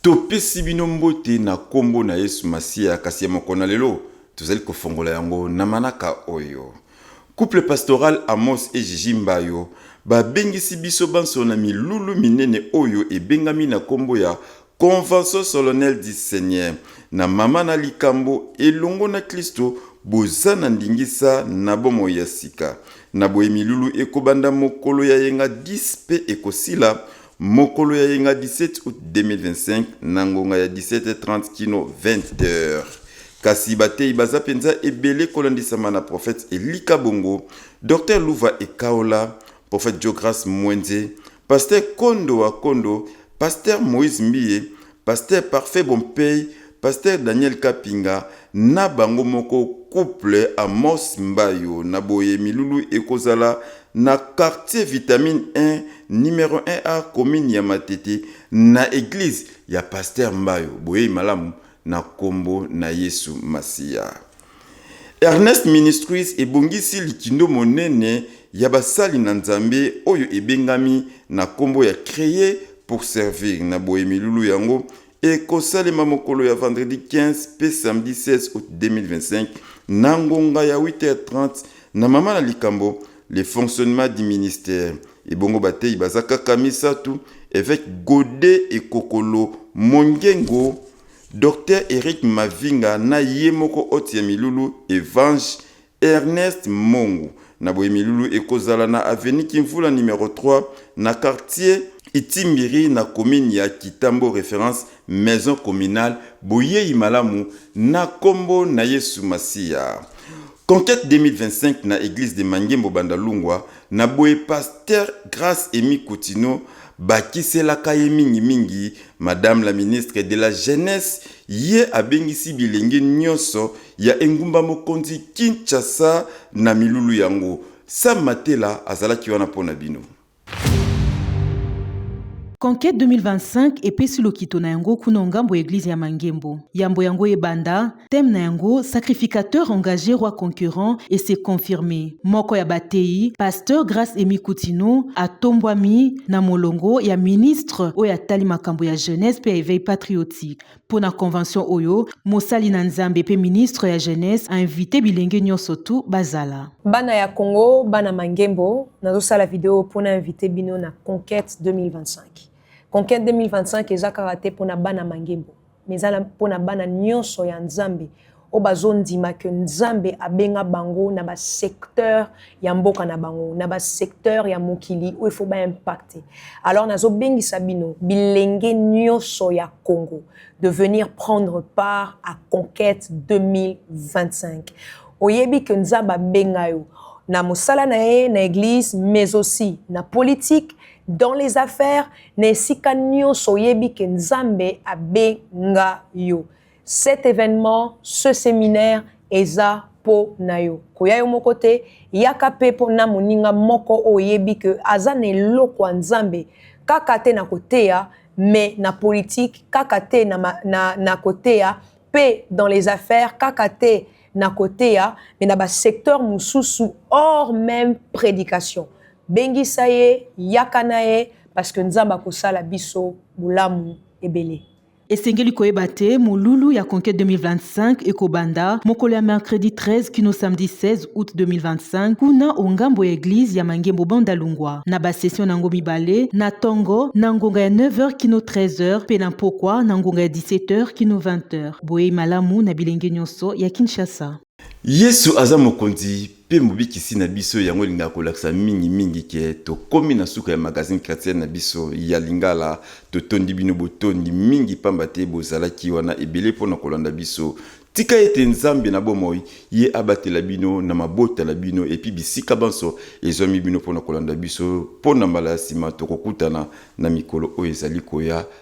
Topesi bino mbote na kombo na Yesu Masiya, kasi ya mokolo na lelo tozali kofongola yango na manaka oyo. Couple pastoral Amos et Gigi Mbayo babengisi biso banso na milulu minene oyo ebengami na kombo ya Convention solennelle du Seigneur na Mama na likambo Elongo na Klisto boza na ndingisa na bomoi ya sika. Na boye milulu ekobanda mokolo ya yenga 10 mpe ekosila Mokolo ya yenga 17 aout 2025 na ngonga ya 17h30 kino 20h. Kasi bateyi baza mpenza ebele kolandisama na prophète Elika Bongo, Docteur Luva Ekaola, prophète Joe Grace Mwenze, Pasteur Kondo wa Kondo, Pasteur Moïse Mbiye, Pasteur parfait bompey pasteur Daniel kapinga na bango moko couple amos mbayo na boye milulu eko zala na quartier vitamine un numero un a commune ya matete na eglise ya pasteur mbayo boyeyi malamu na kombo na yesu masiya. Ernest Ministries ebongisi likindo monene ya basali na Nzambe oyo ebengami na nkombo ya Creer pour servir. Na boye milulu yango ekosalema mokolo ya vendredi 15 mpe samedi 16 août 2025 na ngonga ya 8h30 na mama na likambo le fonctionnement du ministère. Ebongo bateyi baza kaka misatu, eveke Gode Ekokolo Mongengo Docteur Eric Mavinga na ye moko hoti ya milulu Evange Ernest Mongu. Na boye milulu eko zala na avenue Kimvula numero 3 na quartier Itimbiri na commune ya Kitambo reference maison communale boyeyi malamu na kombo na Yesu Masiya. Conquete 2025 na eglise de Mangembo Bandalungwa na boye pasteur Grace Emy Kutino Bakiselaka ye mingi mingi Madame la ministre de la jeunesse, ye abengisi bilenge nionso ya engumba mokonzi Kinshasa na milulu yango. Sam Matela azalaki wana mpo na bino. Conquete 2025 epesi lokito na yango kuna o'ngambo ya eglise ya Mangembo. Yambo yango ebanda, Thème na yango Sacrificateur engage roi concurrent et se confirme. Moko ya bateyi, Pasteur Grace Amy Kutino, atombwami na molongo ya ministre oyo atali makambo ya jeunesse mpe ya eveil patriotique. Mpo na convention oyo, mosali na Nzambe mpe ministre ya jeunesse a inviter bilenge nionso tout bazala. Bana ya Congo, bana mangembo, nazo sala video oyo mpo na inviter bino na conquete 2025. Conquete 2025 eza kaka te mpo na bana mangembo. mais eza mpo na bana nyonso ya nzambe oyo bazondima ke nzambe abenga bango na basecteur ya mboka na bango na basecteur ya mokili oyo ifo baimpacte alors nazobengisa bino bilenge nyonso ya congo de venir prendre part à conquête 2025 oyebi ke nzambe abenga yo na mosala na ye na eglise mais aussi na politique dans les affaires Na esika nionso oyebi que Nzambe abenga yo. Cet evenement, ce seminaire eza po na yo. Koya yo moko te, yaka pe po na moninga moko oyo oyebi que aza na eloko ya Nzambe kaka te na koteya mais na politique kaka te na koteya pe dans les affaires kaka te na koteya me na basecteur mosusu or meme predication bengisa ye yaka na ye parceke nzambe akosala biso bolamu ebele Esengeli koyeba te molulu ya conquête 2025 ekobanda mokolo ya mercredi 13 kino samedi 16 août 2025 kuna ongambo ya eglise ya mangembo banda lungwa na basession na yango mibale na tongo na ngonga ya 9h kino 13h mpe na mpokwa na ngonga ya 17h kino 20h Boyei malamu na bilenge nyonso ya Kinshasa. Yesu aza mokonzi pe mobikisi na biso yango elingaka kolakisa mingi mingi ke tokomi na suka ya magazine chrétienne na biso ya lingala totondi bino botondi mingi pamba te bozalaki wana ebele mpo na kolanda biso tika ete nzambe na bomoi ye abatela bino na mabota na bino epi bisika banso ezwami bino mpo na kolanda biso mpo na mbala ya nsima tokokutana na mikolo oyo ezali koya